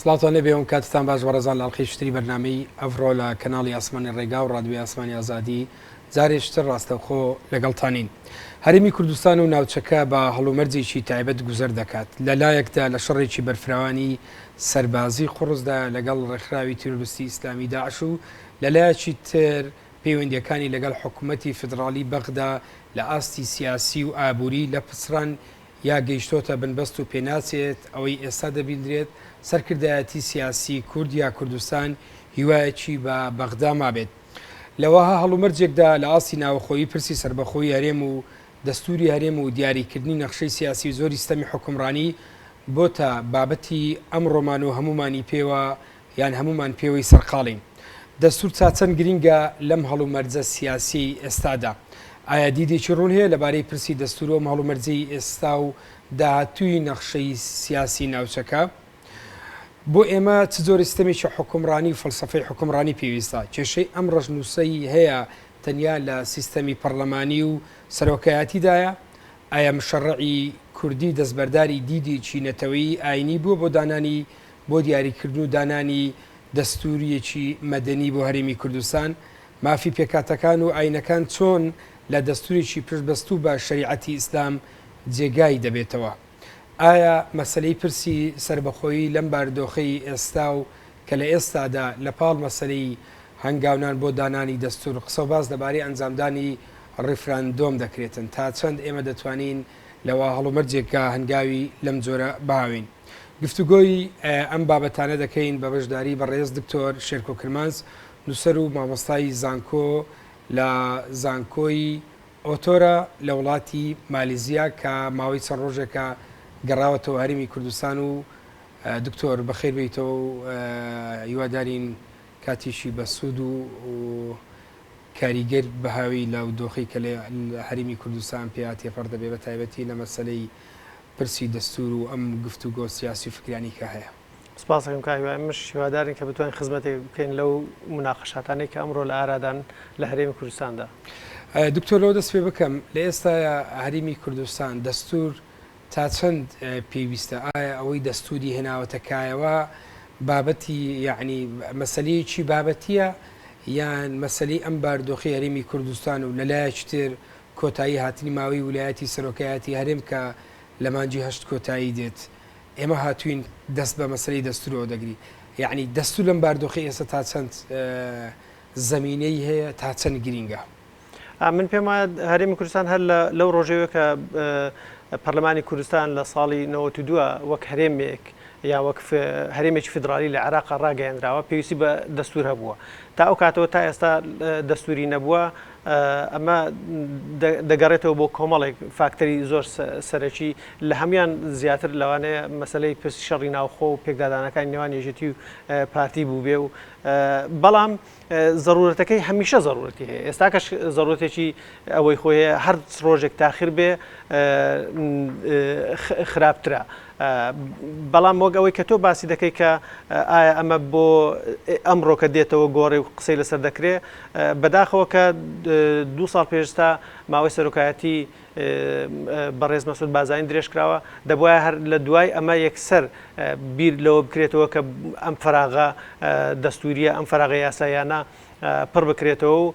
سڵاوتان لێ بێ و کاتتان باش بەڕێزان لە ئەڵقەی شتری بەرنامەی ئەڤڕۆ لە کەناڵی ئاسمانی ڕێگا و ڕادوی ئاسمانی ئازادی جارێشتر ڕاستەوخۆ لەگەڵتانین هەرمی کوردستان و ناوچەکە بە هەڵومەرجێکی تایبەت گوزەر دەکات لە لایەکدا لە شەڕێکی بەرفراوانی سەربازی قڕزدا لەگەڵ ڕێکخراوی تیرۆرستی ئیسلامی داعش و لە لایەکی تر پەیوەندیەکانی لەگەڵ حکوومەتی فدراڵی بەغدا لە ئاستی سیاسی و ئابووری لە پچڕان یا گەیشتۆتە بنبەست و پێناچێت ئەوەی ئێستا دەبیندرێت، سەرکردایەتی سیاسی کورد یا کوردستان هیوایەکی بە بەغدا مابێت. لە وەها هەڵومەرجێکدا لە ئاستی ناوەخۆیی پرسی سەربەخۆی هەرێم و دەستوری هەرێم و دیاریکردنی نەخشەی سیاسی و جۆری ستەمی حوکمڕانی بۆتە بابەتی ئەمڕۆمان و هەموومانی پێوە یان هەموومان پێوەی سەرقاڵین؟ دەستوور تا چەند گرینگە لەم هەڵومەرجە سیاسییەی ئێستادا؟ ئایا دیدێکی ڕوون هەیە لەبارەی پرسی دەستوور و ئەم هەڵومەرجەی ئێستا و داهاتووی نەخشەی سیاسیی ناوچەکە؟ بۆ ئێمە چ جۆرە سیستەمێکی حوکمڕانی و فەلسەفەی حوکمڕانی پێویستە؟ کێشەی ئەم ڕەشنووسەی هەیە تەنیا لە سیستەمی پەڕڵەمانی و سەرۆکایەتیدایە؟ ئایا مشەڕعی کوردی دەستبەرداری دیدێکی نەتەوەیی ئایینی بووە بۆ دانانی بۆ دیاریکردن و دانانی دەستوورییەکی مەدەنی بۆ هەرێمی کوردستان، مافی پێکهاتەکان و ئایینەکان چۆن لە دەستوورێکی پشتبەستوو بە شەریعەتی ئیسلام جێگای دەبێتەوە؟ ئایا مەسەلەی پرسی سەربەخۆیی لەم باردۆخەی ئێستا و کە لە ئێستادا لە پاڵ مەسەلەی هەنگاونان بۆ دانانی دەستوور، قسەوباس لەبارەی ئەنجامدانی ڕیفراندۆم دەکرێتن، تا چەند ئێمە دەتوانین لە وا هەڵومەرجێکا هەنگاوی لەم جۆرە بهاوێین؟ گفتوگۆی ئەم بابەتانە دەکەین بە بەشداری بەڕێز دکتۆر شێرکۆ کرمانج، نووسەر و مامۆستای زانکۆ لە زانکۆی ئۆتۆرە لە وڵاتی مالیزیا کە ماوەی چەند ڕۆژێکە گەڕاوەتەوە هەرمی کوردستان و دکتۆر بەخێر بیتەوە و هیوادارین کاتیشی بە سوود و کاریگەر بەهاوی لە و دۆخی کە لە هەرمی کوردستان پێیا تێپەڕ دەبێ بە تایبەتی لە مەسلەی پرسی دەستور و ئەم گفتوگۆ سیاسی و فکریانەی کە هەیە. سپاست دەکەم کاک هیوا، ئێمەش هیوادارین کە بتوانین خزمەتێک بکەین لەو موناقەشاتانەی کە ئەمڕۆ لە ئارادان لە هەرێمی کوردستاندا. دکتۆر لەوە دەست پێ بکەم، لە ئێستایا هەرێمی کوردستان دەستور تا چەند پێویستە؟ ئایا ئەوەی دەستوری هێناوەتە کایەوە بابەتی یەعنی مەسەلەیەکی بابەتییە یان مەسەلەی ئەم باردۆخی هەرێمی کوردستان و لە لایەکی تر کۆتایی هاتنی ماوەی ولایەتی سەرۆکایەتی هەرێم کە لە مانگی هەشت کۆتایی دێت ئێمە هاتووین دەست بە مەسەلەی دەستورەوە دەگری یەعنی دەستور لەم باردۆخەی ئێستا تا چەند زەمینەی هەیە تا چەند گرینگە؟ من پێم وایە هەرێمی کوردستان هەر لەو ڕۆژەوە کە پەرلەمانی کوردستان لە ساڵی 92 وەک هەرێمێک یا وەک هەرێمێکی فیدرالی لە عراق ڕاگەیەنراوە پێویستی بە دەستور هەبووە تا ئەو کاتەوە تا ئێستا دەستوری نەبووە ئەمە دەگەڕێتەوە بۆ کۆمەڵێک فاکتەری زۆر سەرەکی، لە هەموویان زیاتر لەوانەیە مەسەلەی پرسی شەڕی ناوخۆ و پێکدادانەکانی نێوان یەکێتی و پارتی بووبێ و بەڵام زەروورەتەکەی هەمیشە زەروورەتی هەیە، ئێستاکەش زەروورەتێکی ئەوەی خۆی هەیە، هەر ڕۆژێک تاخیر بێ خراپترە. بەڵام وەک ئەوەی کە تۆ باسی دەکەی کە ئایا ئەمە بۆ ئەمڕۆ کە دێتەوە گۆڕێ و قسەی لەسەر دەکرێ، بەداخەوە کە دوو ساڵ پێش ئێستا ماوەی سەرۆکایەتی بەڕێز مەسعود بازانی درێژ کراوە، دەبوایە هەر لە دوای ئەمە یەکسەر بیر لەوە بکرێتەوە کە ئەم فەراغە دەستوورییە، ئەم فەراغە یاساییانە پڕ بکرێتەوە و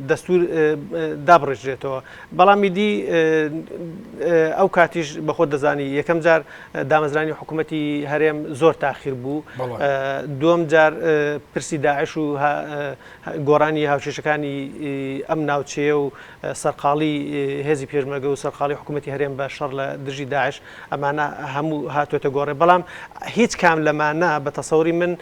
دەستوور دابڕێژرێتەوە. بەڵام ئیدی ئەو کاتیش بە خۆت دەزانی یەکەم جار دامەزرانی حکوومەتی هەرێم زۆر تاخیر بوو. دووەم جار پرسی داعش و گۆڕانی هاوکێشەکانی ئەم ناوچەیە و سەرقاڵی هێزی پێشمەرگە و سەرقاڵی حکوومەتی هەرێم بە شەڕ لە دژی داعش ئەمانە هەموو هاتووەتە گۆڕێ. بەڵام هیچ کام لەمانە بە تەسەوری من،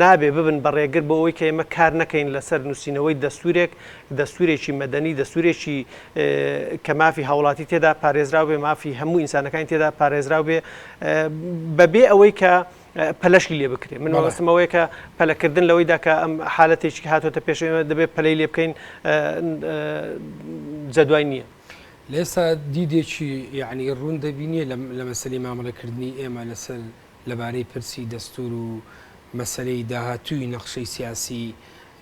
نابێ ببن بە ڕێگر بۆ ئەوەی کە ئێمە کار نەکەین لەسەر نووسینەوەی دەستوورێک، دەستوورێکی مەدەنی، دەستوورێکی کە مافی هاوڵاتی تێدا پارێزراو بێ، مافی هەموو ئینسانەکانی تێدا پارێزراو بێ، بە بێ ئەوەی کە پەلەشی لێ بکرێ. من مەبەستم ئەوەیە کە پەلەکردن لەوەیدا کە ئەم حالەتێکی هاتۆتە پێش ئێمە دەبێ پەلەی لێ بکەین جەدوای نییە. لێسا دیدێکی یەعنی ڕوون دەبینێ لە مەسەلەی مامەڵەکردنی ئێمە لەسەر لەبارەی پرسی دەستوور و مەسەلەی داهاتووی نەخشەی سیاسی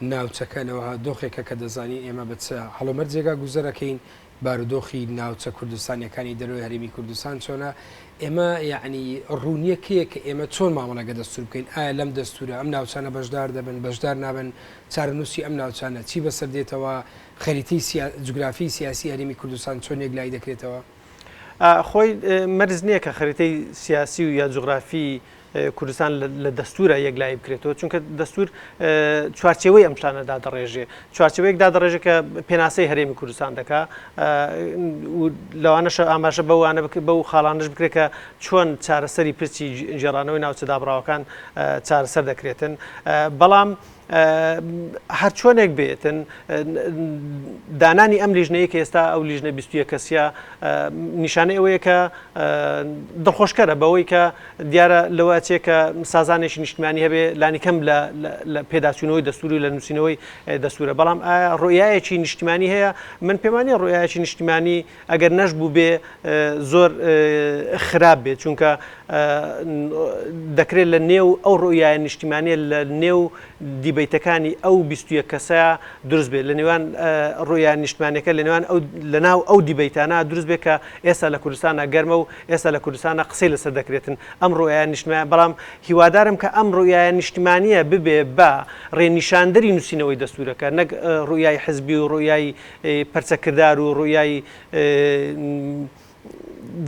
ناوچەکە لە وەها دۆخێکە کە دەزانین ئێمە بە چ هەڵومەرجێکا گوزەر ئەکەین، بارودۆخی ناوچە کوردستانییەکانی دەرەوەی هەرێمی کوردستان چۆنە، ئێمە یەعنی ڕوون نییە کێیە کە ئێمە چۆن مامەڵە لەگە دەستوور بکەین، ئایا لەم دەستوورە ئەم ناوچانە بەشدار دەبن، بەشدار نابن، چارەنووسی ئەم ناوچانە چی بەسەر دێتەوە، خەریتەی جوگرافیی سیاسیی هەرێمی کوردستان چۆن یەکلایی دەکرێتەوە؟ خۆی مەرج نییە کە خەریتەی سیاسی و یا جوغرافی کوردستان لە دەستورە یەکلایی بکرێتەوە چونکە دەستور چوارچەوەی ئەم شتانە دادڕێژێ چوارچەوەیەک دادڕێژێک کە پێناسەی هەرێمی کوردستان دەکا لەوانەشە ئاماژە بەوانە بکە بەو خاڵانش بکرێت کە چۆن چارەسەری پرسی جێرانەوەی ناوچە دابراوەکان چارەسەر دەکرێتن بەڵام هەرچۆنێک بێتن دانانی ئەم لیژنەیە کە ئێستا ئەو لیژنە بیستە کەسیە نیشانەی ئەوەیە کە دڵخۆشکەرە بەوەی کە دیارە لەوە چێ کە سازانێکی نیشتمانی هەبێ لانیکەم لە پێداچوونەوەی دەستوری و لە نووسینەوەی دەستورە بەڵام ڕۆیایەکی نیشتمانی هەیە من پێمانی ڕۆیایکی نیشتمانی ئەگەر نەشبووبێ زۆر خراپ بێ چونکە دەکرێ لە نێو ئەو ڕوئیایە نیشتیمانیە لە نێو دیبەیتەکانی ئەو بیست و یەک کەسەیا دروست بێ لە نێوان ڕوئیا نیشتمانیەکە لە نێوان ئەو لە ناو ئەو دیبەیتانە دروست بێ کە ئێستا لە کوردستانا گەرمە و ئێستا لە کوردستانا قسەی لەسەر دەکرێتن ئەم ڕوئیا نیشتمانیە بەڵام هیوادارم کە ئەم ڕوئیایە نیشتمانیە ببێ بە ڕێنیشاندەری نوسینەوەی دەستورەکە نەک ڕوئیای حزبی و ڕوئیای پەرچە کردار و ڕوئیای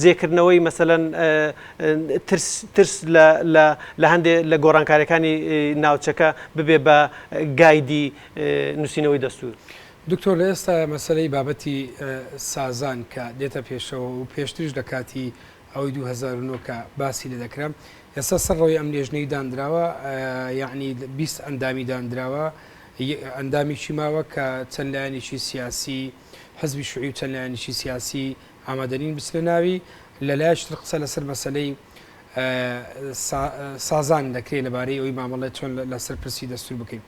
جێکردنەوەی مەسەلەن ترس لە هەندێ لە گۆڕانکاریەکانی ناوچەکە ببێ بە گایدی نووسینەوەی دەستور. دکتۆر لە ئێستاە مەسەلەی بابەتی سازان کە دێتە پێشەوە و پێشتریش لە کاتی ئەوەی 2009 کە باسی لێ دەکرا ئێستا سەر ڕەوی ئەم لێژنەی دانراوە یعنی 20 ئەندامی دانراوە، ی ئەندامیی ماوە کە چەند لایەنێکی سیاسی حزبی شوعی و چەند لایەنێکی سیاسی ئامادەنین بچنە ناوی، لەلایەکی تر قسە لەسەر مەسەلەی سا سازان دەکرێ لەبارەی ئەوی مامەڵەی چۆن لەسەر پرسی دەستور بکەین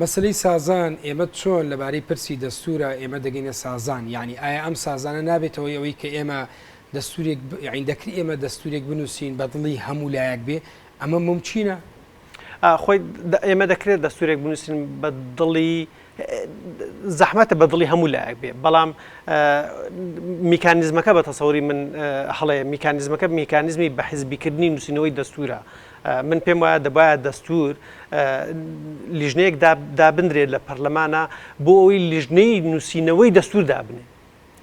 مەسەلەی سازان ئێمە چۆن لەبارەی پرسی دەستورا ئێمە دەگەینە سازان یانی ئایا ئەم سازانە نابێتەوەی ئەوەی کە ئێمە دەستورێک یانی دەکری ئێمە دەستورێک بنوسین بەدڵی هەموو لایەک بێ ئەمە مومکینە؟ خۆی ئێمە دەکرێت دەستورێک بنووسین بە دڵی زەحمەتە بە دڵی هەموو لایەک بێ بەڵام میکانزمەکە بە تەسەوری من هەڵەیە میکانزمەکە میکانزمی بە حزبیکردنی نووسینەوەی دەستورە من پێم وایە دەبایە دەستور لیژنەیەک دابدرێت لە پەرلەمانە بۆ ئەوی لیژنەی نووسینەوەی دەستور دابنێ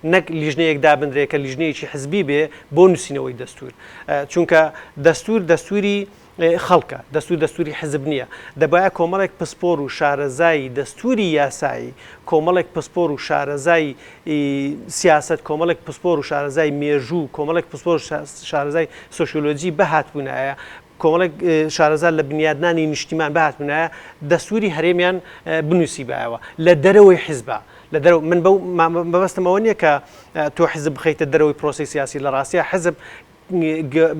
نەک لیژنەیەک دابنرێ کە لیژنەیەکی حزبی بێ بۆ نووسینەوەی دەستوور چونکە دەستوور دەستووری خەڵکە دەستور دەستوری حزب نییە دەبایە کۆمەڵێک پسپۆر و شارەزایی دەستوری یاسایی کۆمەڵێک پسپۆر و شارەزای سیاست کۆمەڵێک پسپۆر و شارەزای مێژوو کۆمەڵێک پسپۆر شارەزای سوسیۆلۆجی بەهات بوونایە کۆمەڵێک شارەزا لە بنیادنانی نیشتیمان بهاتبنایە دەستوری هەرێمیان بنوسیبایەوە لە دەرەوەی حیزبا لە دەرەوە من بەو مەبەستم ئەوە نییە کە تۆ حیزب بخەیتە دەرەوەی پرۆسی سیاسی لە ڕاستە حیزب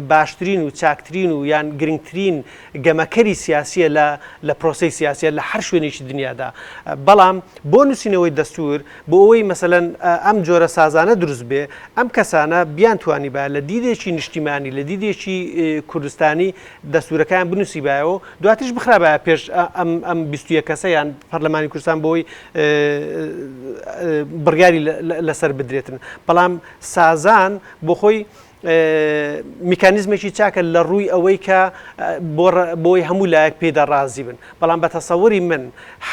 باشترین و چاکترین و یان گرنگترین گەمەکەری سیاسیە لە لە پرۆسی سیاسیە لە هەر شوێنێکی دنیادا بەڵام بۆ نووسینەوەی دەستور بۆ ئەوەی مەسەلەن ئەم جۆرە سازانە دروست بێ، ئەم کەسانە بیانتوانیبایە لە دیدێکی نیشتیمانی، لە دیدێکی کوردستانی دەستوورەکەیان بنووسیبایەوە و دواتریش بخرابایە پێش ئەم بیست و یەک کەسە یان پەرلەمانی کوردستان بۆ ئەوەی بڕیاری لەسەر بدرێتن. بەڵام سازان بۆ خۆی، میکانیزمێکی چاکە لە ڕووی ئەوەی کە بۆی هەموو لایەک پێدا ڕازی بن بەڵام بە تەسەوەری من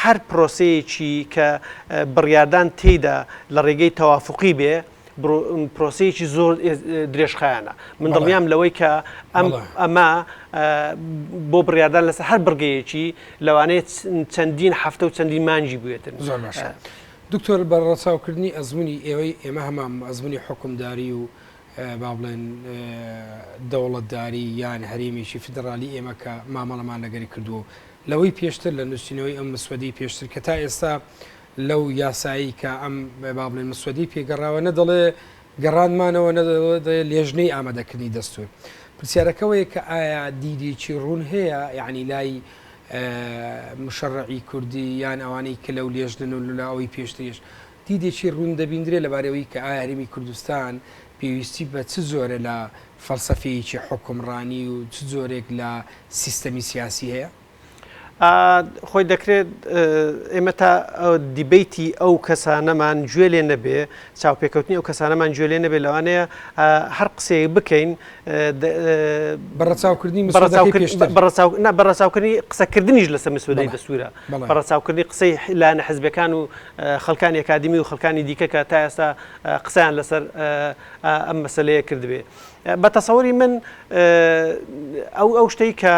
هەر پرۆسەیەکی کە بڕیاردان تێیدا لە ڕێگەی تەوافقی بێ پرۆسەیەکی زۆر درێژخایانە من دڵنیام لەوەی کە ئەم ئەمە بۆ بڕیاردان لەسەر هەر بڕگەیەکی لەوانەیە چەندین هەفتە و چەندین مانجی بێتن زۆر دکتۆر بە ڕەچاوکردنی ئەزمموی ئێوەی ئێمە هەمان ئەزمموی حکومداری و با بڵێن دەوڵەتداری یان هەرێمێکی فیدڕالی ئێمە کە مامەڵەمان لەگەری کردووە و لەوەی پێشتر لە نووسینەوەی ئەم مسودەی پێشتر کە تا ئێستا لەو یاسایی کە ئەم با بڵێن مسودەی پێگەڕاوە نە دەڵێ گەڕانمانەوە نە لێژنەی ئامادەکردنی دەستور پرسیارەکەەوەی کە ئایا دیدێکی ڕوون هەیە یعنی لای مشەڕعی کوردی یان ئەوانەی کە لەو لێژنن و لەلاوەی پێشتریش دیدێکی ڕوون دەبیندرێ لەبارەی ئەوەی کە ئایا هەرێمی کوردستان پێویستی بە چ جۆرە لە فەلسەفەیەکی حوکمڕانی و چ جۆرێک لە سیستەمی سیاسی هەیە؟ خۆی دەکرێت ئێمە تا دیبەیتی ئەو کەسانەمان گوێ لێ نەبێ، چاوپێکەوتنی ئەو کەسانەمان گوێ لێ نەبێ لەوانەیە هەر قسەیەک بکەین، بە ڕەچاوکردنی مسودەکەی پێشتر. بە ڕەچاوکردنی قسەکردنیش لەسەر مسودەی دەستورە، بە ڕەچاوکردنی قسەی لایەنە حزبیەکان و خەڵکانی ئەکادیمی و خەڵکانی دیکە کە تا ئێستا قسەیان لەسەر ئەم مەسەلەیە کردبێ. بە تەسەوری من ئەو شتەی کە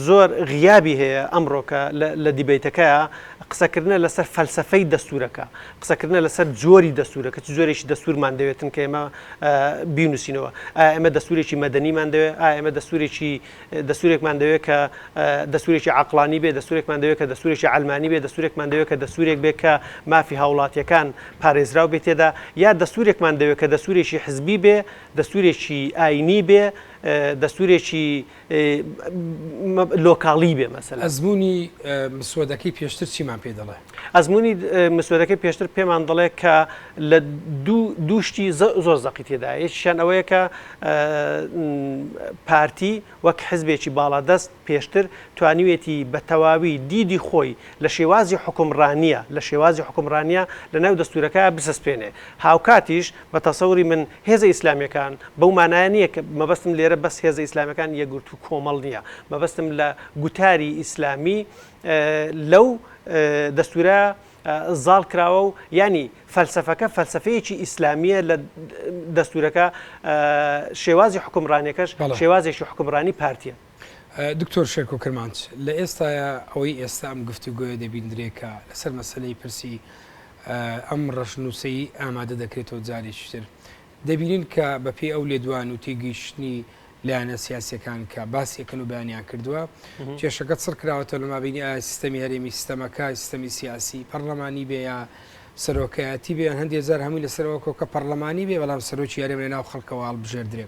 زۆر غیابی هەیە ئەمڕۆکە لە دیبەیتەکەیا، قسەکردنە لەسەر فەلسەفەی دەستوورەکە، قسەکردنە لەسەر جۆری دەستوورەکە، چ جۆرێکی دەستوورمان دەوێتن کە ئێمە بینووسینەوە؟ ئایا ئێمە دەستوورێکی مەدەنیمان دەوێت؟ ئایا ئێمە دەستوورێکی دەستوورێکمان دەوێت کە دەستوورێکی عەقڵانی بێت، دەستوورێکمان دەوێت کە دەستوورێکی عەلمانی بێت، دەستوورێکمان دەوێت کە دەستوورێک بێت کە مافی هاوڵاتییەکان پارێزراو بێت تێدا، یا دەستوورێکمان دەوێت کە دەستوورێکی حزبی بێت، دەستوورێکی ئایینی بێت، دەستوورێکی لۆکاڵی بێ مەسەلە. ئەزموونی مسۆدەکەی پێشتر چیمان پێ دەڵێ؟ ئەزموونی مسۆدەکەی پێشتر پێمان دەڵێ کە لە دوو شتی زۆر زەقی تێدا یەکیشیان ئەوەیە کە پارتی وەک حزبێکی باڵادەست پێشتر توانیوێتی بە تەواوی دیدی خۆی لە شێوازی حوکمڕانییە لە شێوازی حوکمڕانییە لەناو دەستوورەکە بسەسپێنێ هاوکاتیش بە تەسەوری من هێزە ئیسلامیەکان بەو مانایە نیە کە مەبەستم لێرە بەس هێزە ئیسلامیەکان یەکگرتوو کۆمەڵ نیە مەبەستم لە گوتاری ئیسلامی لەو دەستورە زاڵ کراوە و ینی فەلسفەکە فەلسفەیەکی ئیسلامیە لە دەستورەکە شێوازی حکومڕانەکەش شێوازێکی حکومڕانی پارتیە. دکتۆر شێرکۆ کرمانج، لە ئێستایا ئەوەی ئێستا ئەم گفتوگۆیە دەبیندرێ کە لەسەر مەسەلەی پرسی ئەم ڕەشنووسەی ئامادە دەکرێتەوە جارێکی تر دەبینین کە بە پێی ئەو لێدوان و تێگەیشتنی لایەنە سیاسەکان کە باسیەکەن و بەیانیان کردووە کێشەکە چڕ کراوەتە لە مابینی ئایا سیستەمی هەرێمی سیستەمەکە سیستەمی سیاسی پەرلەمانی بێ یا سەرۆکایەتی بێ هەندێک جار هەمووی لەسەرەوە کۆکە پەرلەمانی بێ بەڵام سەرۆکی یارێمە ناو خەڵکەوە هەڵبژێردرێ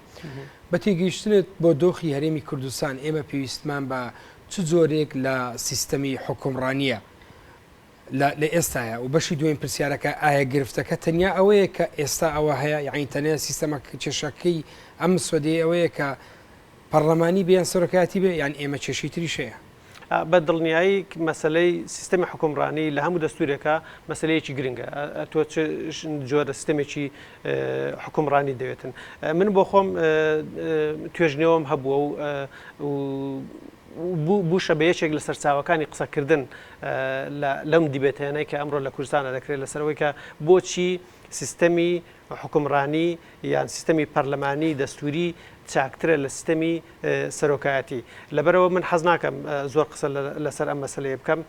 بە تێگەیشتنت بۆ دۆخی هەرێمی کوردستان ئێمە پێویستمان بە چ جۆرێک لە سیستەمی حوکمڕانییە لە لە ئێستاە و بەشی دوێن پرسیارەکە ئایا گرفتەکە تەنیا ئەوەیە کە ئێستا ئەوە هەیە یعنی تەنیا سیستەمە کێشەکەی ئەم سوەدەی ئەوەیە کە پەرلەمانی بیان سەرۆکایەتی بێ یان ئێمە کێشەی تریشەیە بە دڵنیایی مەسەلەی سیستەمی حوکمڕانی لە هەموو دەستورێکا مەسەلەیەکی گرنگە تۆ جۆرە سیستەمێکی حکومڕانی دەوێتن من بۆ خۆم توێژنەوەم هەبووە و بوشە بە یەکێک لە سەرچاوەکانی قسەکردن لەم دیبێتێنەی کە ئەمڕۆ لە کوردستانە دەکرێت لەسەرەوەی کە بۆچی سیستەمی حوکمڕانی یان سیستەمی پەرلەمانی دەستووری چاکترە لە سیستەمی سەرۆکایەتی. لەبەرئەوە من حەز ناکەم زۆر قسە لەسەر ئەم مەسەلەیە بکەم،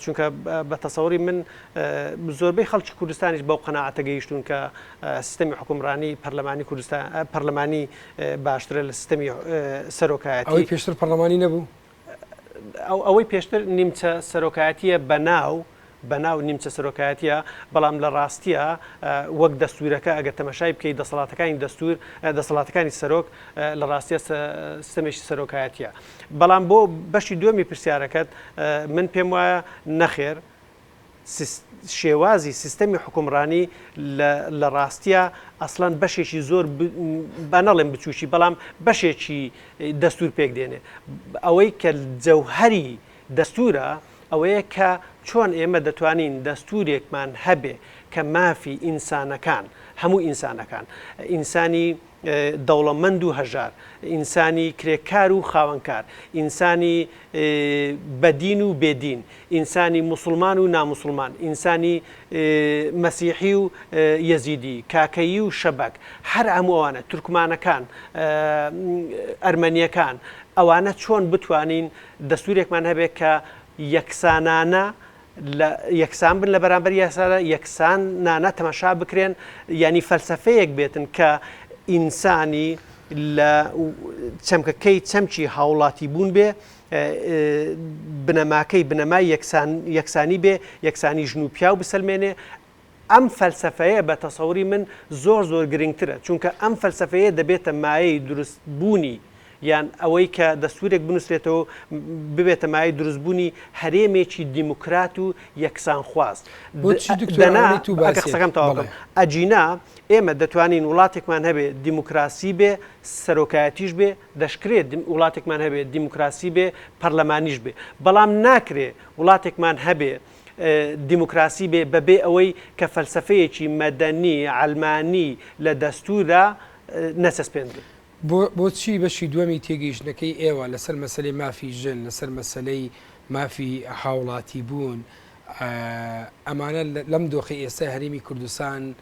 چونکە بە تەسەوری من زۆربەی خەڵکی کوردستانیش بەو قەناعەتە گەیشتوون کە سیستەمی حوکمڕانی پەرلەمانی کوردستان پەرلەمانی باشترە لە سیستەمی سەرۆکایەتی. ئەوەی پێشتر پەرلەمانی نەبوو؟ ئەوەی پێشتر نیمچە سەرۆکایەتییە بە ناو، بە ناو نیمچە سەرۆکایەتییە، بەڵام لە ڕاستییا وەک دەستوورەکە ئەگەر تەمەشای بکەی دەسەڵاتەکانی دەستوور، دەسەڵاتەکانی سەرۆک لە ڕاستییا سیستەمێکی سەرۆکایەتییە. بەڵام بۆ بەشی دووەمی پرسیارەکەت من پێم وایە نەخێر، شێوازی سیستەمی حوکمڕانی لە ڕاستیا ئەسڵەن بەشێکی زۆر با نەڵێن بچووکی بەڵام بەشێکی دەستور پێک دێنێ ئەوەی کە جەوهەری دەستورە ئەوەیە کە چۆن ئێمە دەتوانین دەستورێکمان هەبێ کە مافی ئینسانەکان هەموو ئینسانەکان ئینسانی دەوڵەمەند و هەژار، ئینسانی کرێکار و خاوەنکار، ئینسانی بەدین و بێ دین، ئینسانی موسڵمان و ناموسڵمان، ئینسانی مەسیحی و یەزیدی، کاکەیی و شەبەک، هەر هەموو ئەوانە، تورکمانەکان، ئەرمەنیەکان، ئەوانە چۆن بتوانین دەستورێکمان هەبێت کە یەکسانانە لە یەکسان بن لە بەرامبەر یاسادا، یەکسان نانە تەماشا بکرێن، یانی فەلسەفەیەک بێتن کە ئینسانی لە چەمکەکەی چەمکی هاوڵاتی بوون بێ بنەماکەی بنەمای یەکسانی بێ، یەکسانی ژن و پیاو بسەلمێنێ، ئەم فەلسەفەیە بە تەسەوری من زۆر زۆر گرنگترە، چونکە ئەم فەلسەفەیە دەبێتە مایەی دروست بوونی یان ئەوەی کە دەستورێک بنوسرێتەوەو ببێتە مایەی دروست بوونی هەرێمێکی دیموکرات و یەکسان خواز. بۆچی دکتۆر دەنا ئەوەنەی تو ئەکە باسیت قسەکەم تەواو بڵێ. کەم ئەگینا ئێمە دەتوانین وڵاتێکمان هەبێ دیموکراسی بێ سەرۆکایەتیش بێ، دەشکرێ دیم وڵاتێکمان هەبێ دیموکراسی بێ پەرلەمانیش بێ، بەڵام ناکرێ وڵاتێکمان هەبێ دیموکراسی بێ بە بێ ئەوەی کە فەلسەفەیەکی مەدەنی، عەلمانی لە دەستووردا نەچەسپێندرێ. بۆ بۆچی بەشی دووەمی تێگەیشتنەکەی ئێوە لە سەر مەسەلەی مافی ژن، لە سەر مەسەلەی مافی هاوڵاتیبوون، ئەمانە لەم دۆخەی ئێستای هەرێمی کوردستان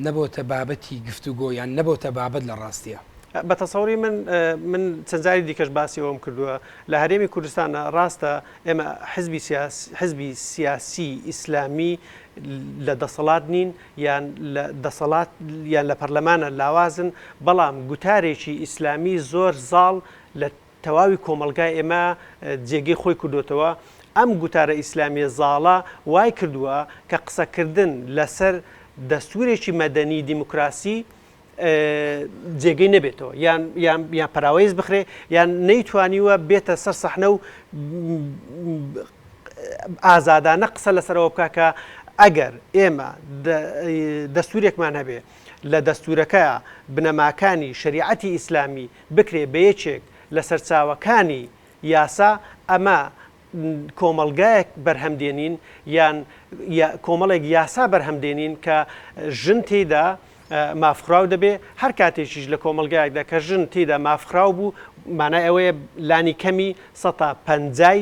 نەبۆتە بابەتی گفتوگۆ یان نەبۆتە بابەت لە ڕاستیا. بە تەسەوری من من چەند جاری دیکەش باسی ئەوەم کردووە لە هەرێمی کوردستان ڕاستە ئێمە حزبی سیاسی حزبی سیاسی ئیسلامی لە دەسەڵات نین یان لە دەسەڵات یان لە پەرلەمانە لاوازن بەڵام گوتارێکی ئیسلامی زۆر زاڵ لە تەواوی کۆمەڵگای ئێمە جێگەی خۆی کردۆتەوە، ئەم گوتارە ئیسلامیە زاڵە وای کردوە کە قسەکردن لەسەر دەستورێکی مەدەنی دیموکراسی جێگەی نەبێتەوە یان یان یان پەراوێز بخرێ یان نەیتوانیوە بێتە سەر سەحنە و ئازادانە قسە لەسەرەوە بکە کە ئەگەر ئێمە دەستورێکمان هەبێ لە دەستوورەکە بنەماکانی شەریعەتی ئیسلامی بکرێ بە یەکێک لە سەرچاوەکانی یاسا، ئەمە کۆمەڵگایەک بەرهەم دێنین یان کۆمەڵێک یاسا بەرهەم دێنین کە ژن تێیدا مافخراو دەبێ، هەر کاتێکیش لە کۆمەڵگایەکدا کە ژن تێیدا مافخراو بوو، مانای ئەوەیە لانی کەمی سەتا پەنجای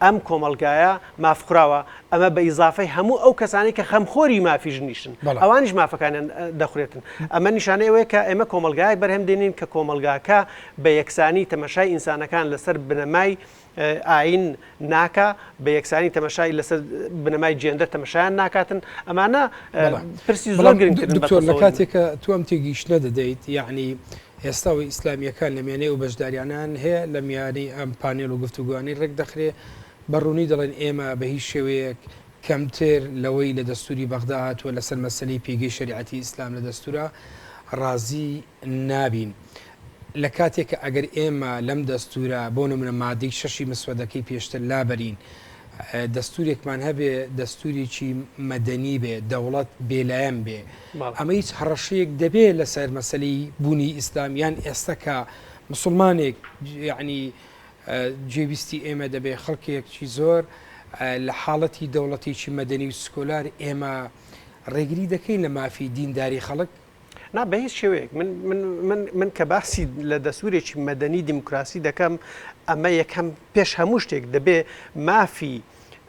ئەم کۆمەڵگایە ماف خوراوە ئەمە بە ئیزافەی هەموو ئەو کەسانی کە خەمخۆری مافی ژنیشن ئەوانیش مافەکانیان دەخورێتن ئەمە نیشانەی ئەوەیە کە ئێمە کۆمەلگایەک بەرهەم دێنین کە کۆمەلگاکە بە یەکسانی تەمەشای ئینسانەکان لەسەر بنەمای ئاین ناکە بە یەکسانی تەمەشای لەسەر بنەمای جێندە تەمەشایان ناکاتن ئەمانە پرسی زۆر گرنگتر لە کاتێکە تو ئەم تێگەیشتە دەدەیت یعنی ئێستا و ئیسلامییەکان لە میانەی ئەو بەشداریانەن هەیە، لە میانەی ئەم پانێل و گفتوگۆانەی ڕێک دەخرێ، بە ڕوونی دەڵێن ئێمە بە هیچ شێوەیەک کەمتر لەوەی لە دەستووری بەغدا هاتووە لە سەر مەسەلەی پێگەی شەریعەتی ئیسلام لە دەستوورا ڕازی نابین. لە کاتێک کە ئەگەر ئێمە لەم دەستوورە بۆ نموونە مادەی شەشی مسوەدەکەی پێشتر لابەرین، دەستورێکمان هەبێ دەستوریی مەدەنی بێ دەوڵەت بێلایەن بێ ئەمە هیچ هەڕەشەیەک دەبێ لەسەر مەسلی بوونی ئیسلامیان ئێستا کە مسلمانێک ینی جێویستی ئێمە دەبێ خەڵکێکی زۆر لە حاڵەتی دەوڵەتێکی مەدەنی و سکۆلار ئێمە ڕێگری دەکەین لە مافی دینداری خەڵک نا بە هیچ شێوەیەک من من من من کە باسی لە دەسوورێکی مەدەنی دیموکراسی دەکەم ئەمە یەکەم پێش هەموو شتێک دەبێ مافی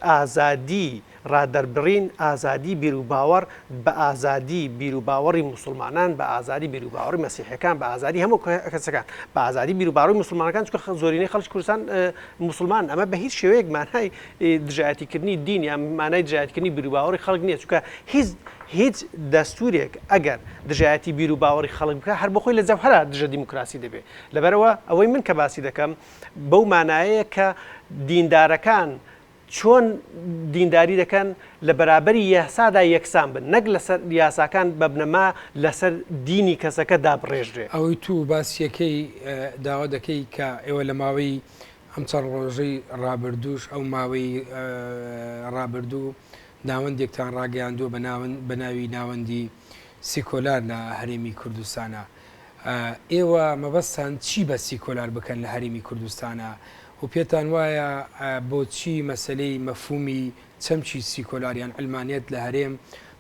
ئازادی ڕادەربڕین ئازادی بیر و باوەڕ بە ئازادی بیر و باوەڕی مسلمانان بە ئازادی بیر و باوەڕی مەسیحەکان بە ئازادی هەموو کەسەکان بە ئازادی بیر و باڕی مسلمانەکان چکە زۆرینەی خەڵک کوردستان مسلمان ئەمە بە هیچ شێوەیەک مانای دژایەتیکردنی دین یان مانای دژایەتیکردنی بیروباوەڕی خەڵک نییە، چونکە هیچ هیچ دەستوورێک ئەگەر دژایەتی بیروباوەڕی خەڵک بکات، هەر بۆخۆی لە جەوهەرا دژە دیموکراسی دەبێت. لەبەرئەوە ئەوەی من کە باسی دەکەم بەو مانایەیە کە دیندارەکان چۆن دینداری دەکەن لە بەرابەری یاسادا یەکسان بن، نەک لەسەر یاساکان بە بنەما لەسەر دینی کەسەکە دابڕێژرێ. ئەوەی توو باسی یەکەی داوا دەکەی کە ئێوە لە ماوەی ئەم چەند ڕۆژەی ڕابردووش ئەو ماوەی ڕابردوو ناوەندێکتان ڕاگەیاندووە بە ناوی ناوەندی سیکۆلار لە هەرێمی کوردستانە ئێوە مەبەستان چی بە سیکۆلار بکەن لە هەرێمی کوردستانە و پێتان وایە بۆچی مەسلەی مەفومی چەمچی سیکۆلاریان ئەلمانێت لە هەرێم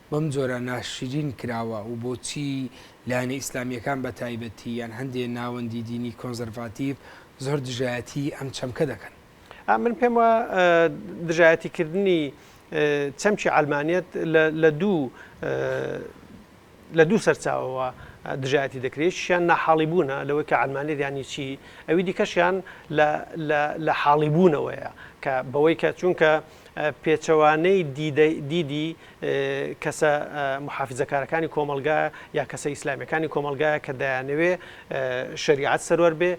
بەم جۆرە ناشرین کراوە و بۆچی لایەنە ئیسلامیەکان بە تایبەتی یان هەندێک ناوەندی دینی کۆنزەرڤاتیڤ زۆر دژایەتیی ئەم چەمکە دەکەن. من پێم وایە دژایەتیکردنی چەمکی عەلمانیەت لە دوو لە دوو سەرچاوەوە دژایەتی دەکرێت، یەکیشیان ناحاڵیبوونە لەوەی کە عەلمانیەت یانی چی، ئەوی دیکەشیان لە حاڵیبوونەوەیە کە بەوەی کە چونکە پێچەوانەی دیدی کەسە موحافیزەکارەکانی کۆمەڵگا یا کەسە ئیسلامیەکانی کۆمەلگا کە دایانەوێ شریعەت سەروەر بێ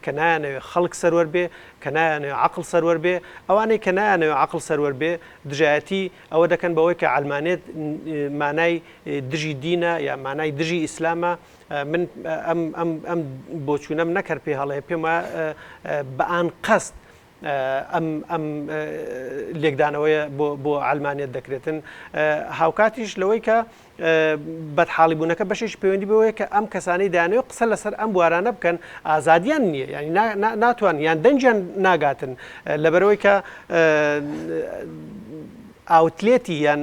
کە نایانەوێ خەڵک سەروەر بێ کە نایانێ عقل سەروەر بێ ئەوانەی کە نایانەوێ عقل سەروەر بێ دژایەتی ئەوە دەکەن بەوەی کە ئەلمانێت مانای دژی دینە یا مانای دژی ئیسلامە من ئەم بۆچوونەم نەکرد پێ هەڵێ پێم بە ئان قەست ئەم ئەم لێکدانەوەیە بۆ بۆ عەلمانیەت دەکرێتن هاوکاتیش لەوەی کە بەدحاڵی بوونەکە بەشێکی پەیوەندی بەوەیە کە ئەم کەسانی دانەوە قسە لەسەر ئەم بوارانە بکەن ئازادیان نییە ینی ناتوان یان دەنجیان ناگاتن لەبەرەوەی کە ئاوتلێتی یان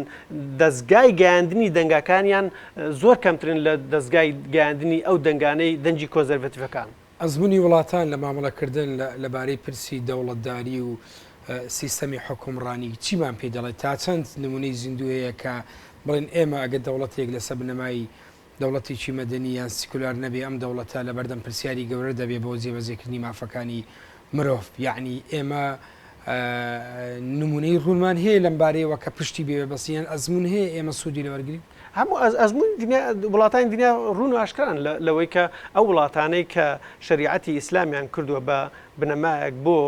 دەستگای گەیاندنی دەنگەکانیان زۆر کەمترن لە دەستگای گەیاندنی ئەو دەنگانەی دەنجی کۆزەرڤەتیفەکان. ئەزموونی وڵاتان لە مامەڵەکردن لە بارەی پرسی دەوڵەتداری و سیستەمی حوکمڕانی چیمان پێ دەڵێت؟ تا چەند نموونەی زیندوو هەیە کە بڵێن ئێمە ئەگەر دەوڵەتێک لەسەر بنەمای دەوڵەتێکی مەدەنی یان سیکولار نەبێ ئەم دەوڵەتە لەبەردەم پرسیاری گەورە دەبێ بۆ جێبەجێکردنی مافەکانی مرۆڤ، یەعنی ئێمە نموونەی ڕوونمان هەیە لەم بارەیەوە کە پشتی بێ بەسی یان ئەزموون هەیە ئێمە سوودی لێ وەرگرین؟ هەموو ئەزموونی دنیا، وڵاتانی دنیا ڕوون و ئاشکران لەوەی کە ئەو وڵاتانەی کە شەریعەتی ئیسلامیان کردووە بە بنەمایەک بۆ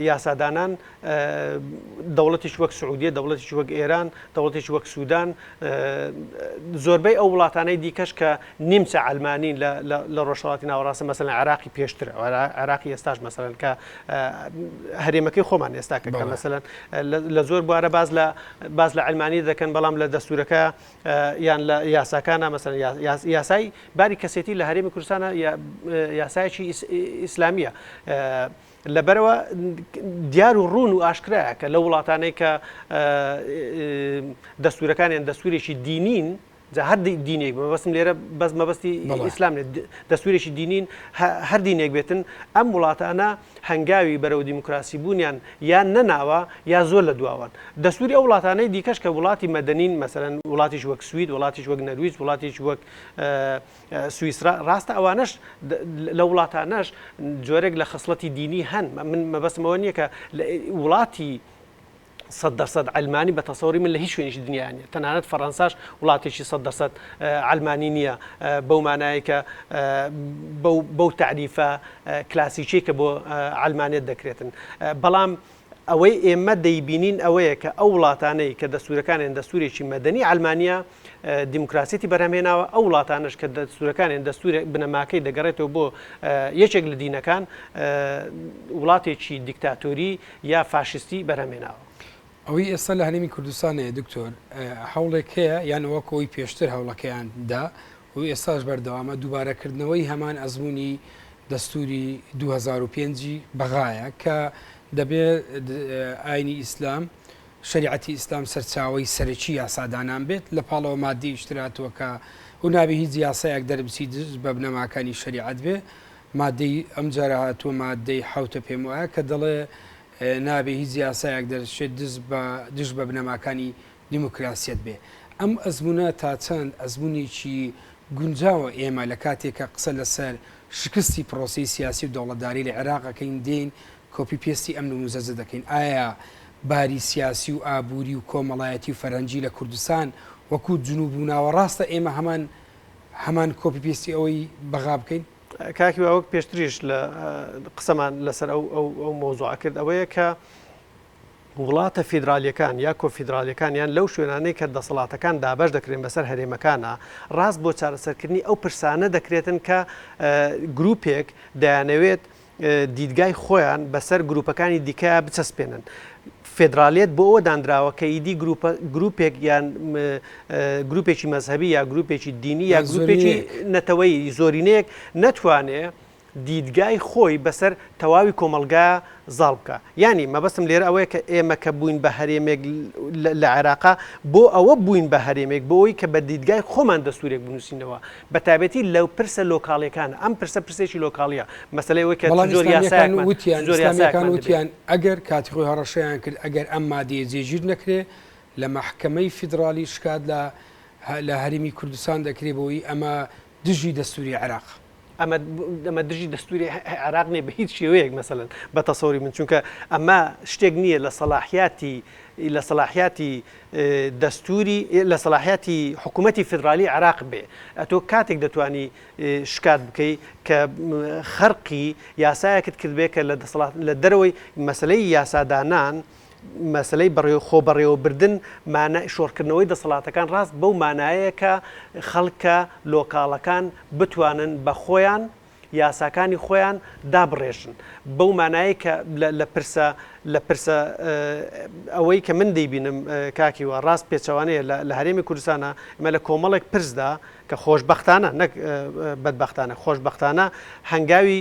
یاسادانان دەوڵەتێکی وەک سعودیە، دەوڵەتێکی وەک ئێران، دەوڵەتێکی وەک سودان، زۆربەی ئەو وڵاتانەی دیکەش کە نیمچە عەلمانین لە ڕۆژهەڵاتی ناوەڕاستە مەسەلەن عێراقی پێشتر عێراقی ئێستاش مەسەلەن کە هەرێمەکەی خۆمان ئێستا کە بەڵێ. مەسەلەن لە زۆر بوارە باس لە باس لە عەلمانی دەکەن بەڵام لە دەستوورەکە یان لە یاساکانە مەسەلەن یا یا یاسای باری کەسێتی لە هەرێمی کوردستانە یا یاسایەکی ئیسلامییە لەبەرئەوە دیار و ڕوون و ئاشکرایە کە لەو وڵاتانەی کە دەستوورەکانیان دەستوورێکی دینین، جا هەر دینێک بە بەسم لێرە بەس مەبەستی ئیسلام دەستوورێکی دینین هەر دینێک بێتن ئەم وڵاتانە هەنگاوی بەرەو دیموکراسی بوونیان یان نەناوە یا زۆر لە دواوان دەستووری ئەو وڵاتانەی دیکەش کە وڵاتی مەدەنین مەسەرەن وڵاتیش وەک سوید وڵاتیش وەک نەرویج وڵاتیش وەک سویسرا ڕاستە ئەوانەش لە وڵاتانەش جۆرێک لە خەسڵەتی دینی هەن من مەبەستم ئەوە نییە کە وڵاتی سەد دەرسەد ئەلمانی بە تەسەوری من لە هیچ شوێنیش دنیا نیە تەنانەت فەڕەنساش وڵاتێکی سەد دەرسەد ئەلمانی نییە بەو مانایەکە بەو تعریفە کلاسیکی کە بۆ ئەلمانێت دەکرێتن بەڵام ئەوەی ئێمە دەیبینین ئەوەیە کە ئەو وڵاتانەی کە دەستورەکانیان دەستورێکی مەدەنی عەلمانیە دیموکراسیەتی بەرهەمێناوە ئەو وڵاتانش کە دەستورەکانیان دەستورە بنەماکەی دەگەڕێتەوە بۆ یەکێک لە دینەکان وڵاتێکی دیکتاتۆری یا فاشستی بەرهەمێناوە. ئەوەی ئێستا لە هەرێمی کوردستانەیە دکتۆر هەوڵێک هەیە یان وەکەوەی پێشتر هەوڵەکەیان دا و ئێستاش بەردەوامە، دووبارەکردنەوەی هەمان ئەزموونی دەستووری دوو هەزار و پێنج ی بەغایە کە دەبێت ئاینی ئیسلام، شەریعەتی ئیسلام سەرچاوەی سەرەکی یاسادانان بێت، لە پاڵەوە ماددی ئیشتراتووەکە و نابێ هیچ یاسایەک دەربچی دژ بە بنەماکانی شەریعەت بێ، ماددەی ئەمجارە هاتووە ماددەی حەوتە پێم وایە کە دەڵێ نابێ هیچ یاسایەک دەرچێت دژ بە بنەماکانی دیموکراسیەت بێ. ئەم ئەزموونە تا چەند ئەزموونێکی گونجاوە ئێمە لە کاتێک کە قسە لە سەر شکستی پرۆسەی سیاسی و دەوڵەتداری لە عێراق ئەکەین دێین کۆپی پێستی ئەم نموزەجە دەکەین ئایا باری سیاسی و ئابووری و کۆمەڵایەتی و فەرهەنگی لە کوردستان وەکوو جنووب و ناوەڕاستە ئێمە هەمان هەمان کۆپی پێستی ئەوەی بەغا بکەین؟ کاک هیوا وەک پێشتریش لە قسەمان لە سەر ئەو ئەو ئەو مەوزوعە کرد ئەوەیە کە وڵاتە فیدرالیەکان یا کۆنفیدرالیەکان یان لەو شوێنانەی کە دەسەڵاتەکان دابەش دەکرێن بەسەر هەرێمەکانا ڕاست بۆ چارەسەرکردنی ئەو پرسانە دەکرێتن کە گروپێک دەیانەوێت دیدگای خۆیان بەسەر گروپەکانی دیکە بچەسپێنن فدرالیت بۆ ئەوە دانراوە کە ئیدی گروپێک یان گروپێکی مەذهبی یا گروپێکی دینی یا گروپێکی نەتەوەی زۆرینەیەک نەتوانێ دیدگای خۆی بەسەر تەواوی کۆمەڵگا زاڵ بکا. یانی مەبەستم لێرە ئەوەیە کە ئێمە کە بووین بە هەرێمێک لە عێراقا بۆ ئەوە بووین بە هەرێمێک بۆ ئەوەی کە بە دیدگای خۆمان دەستوورێک بنووسینەوە بە تایبەتی لە پرسە لۆکاڵیەکانە. ئەم پرسە پرسێکی لۆکاڵیە مەسەلەی ئەوەی کە چ جۆر یاسایەکمان چ جۆر یاسایەکمان دەبێ. بەڵام ئیسلامیەکان وتیان ئەگەر کاتی خۆی هەڕەشەیان کرد ئەگەر ئەم مادەیە جێگیر نەکرێ لە مەحکەمەی فیدڕاڵی شکات لە لە هەرێمی کوردستان دەکرێ بۆ ئەوەی ئەمە دژی دەستوری عێراق. ئەمە ئەمە دژی دەستوری عێراق نیە بەهیچ شێوەیەک مەسەلەن بە تەسەوری من چونکە ئەمە شتێک نییە لە سەلاحیاتی لە سەلاحیاتی دەستوری لە سەلاحیاتی حکوومەتی فیدرالی عراق بێ ئەتۆ کاتێک دەتانی شکات بکەی کە خەرقی یاسایەکت کردبێ کە لە دەسەڵات لە دەرەوەی مەسلەی یاسادانان و مەسەلەی بەڕێوە خۆبەڕێوەبردن مانا شۆڕکردنەوەی دەسەڵاتەکان ڕاست بەو مانایەیە کە خەڵکە لۆکاڵەکان بتوانن بە خۆیان یاساکانی خۆیان دابڕێژن بەو مانایەی کە لە لە پرسە لە پرسە ئەوەی کە من دەیبینم کاک هیوا ڕاست پێچەوانەیە لە لە هەرێمی کوردستانە ئێمە لە کۆمەڵێک پرسدا کە خۆشبەختانە نەک بەدبەختانە خۆشبەختانە هەنگاوی